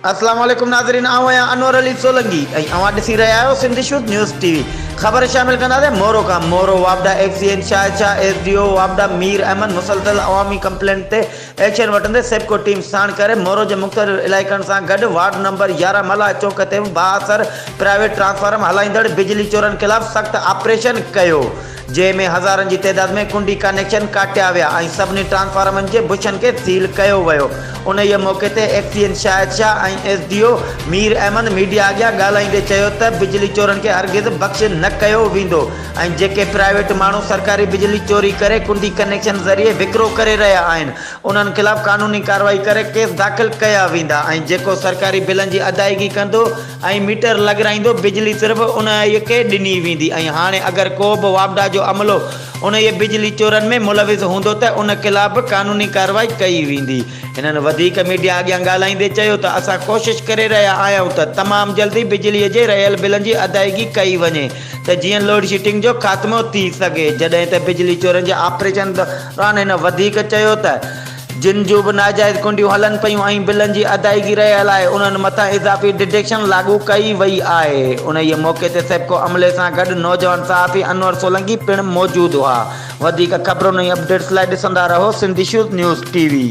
السلام عليڪم ناظرين آئون آهيان انور علي سولنگي ۽ اوهان ڏسي رهيا آهيو Sindh shows news T V خبر شامل ڪنداسين مورو کان مورو واپڊا F C N Shahid Shah S D او واپڊا مير احمد مسلسل عوامي ڪمپلينٽ تي ايڪشن وٺندي سيپڪو ٽيم ساڻ ڪري مورو جي مختلف علائقن سان گڏ وارڊ نمبر يارهن ملاح چوڪ تي به بااثر پرائيويٽ ٽرانسفارم هلائيندڙ بجلي چورن خلاف سخت آپريشن ڪيو جنهن ۾ هزارن جي تعداد ۾ ڪنڊي ڪانيڪشن ڪاٽيا ويا ۽ سڀني ٽرانسفارمرن جي بشن کي سيل ڪيو ويو. انهيء موقعي تي F C N Shahid Shah ۽ S D O Mir Ahmed media اڳيان ڳالهائيندي چيو ته بجلي چورن کي هرگز بخش نه ڪيو ويندو ۽ جيڪي پرائيويٽ ماڻهو سرڪاري بجلي چوري ڪري ڪنڊي ڪنيڪشن ذريعي وڪرو ڪري رهيا آهن انهن خلاف قانوني ڪارروائي ڪري ڪيس داخل ڪيا ويندا ۽ جيڪو سرڪاري بلن جي ادائيگي ڪندو ۽ ميٽر لڳرائيندو بجلي صرف انهيء کي ڏني ويندي ۽ هاڻي اگر ڪو به واپڊا جو عملو انهيء بجلي چورن ۾ ملوث هوندو ته ان خلاف به قانوني ڪارروائي ڪئي ويندي. هنن وڌيڪ ميڊيا اڳيان ڳالهائيندي چيو ته اسان ڪوشش ڪري رهيا آهيون ته تمام جلدي بجلي جي رهيل بلن جي ادائيگي ڪئي وڃي ته جيئن لوڊشيٽنگ جو خاتمو ٿي سگهي جڏهن ته بجلي چورن جي آپريشن دوران هن وڌيڪ چيو ته جن جون به ناجائز ڪنڊيون هلن پيون ۽ بلن جي ادائيگي رهيل آهي، انهن مٿان اضافي ڊڊيڪشن لاڳو ڪئي وئي آهي. انهيء موقعي تي سيپڪو عملي سان گڏ نوجوان صحافي انور سولنگي پڻ موجود هئا. وڌيڪ خبرن ۽ اپڊيٽس لاء ڏسندا رهو Sindh issues news T V.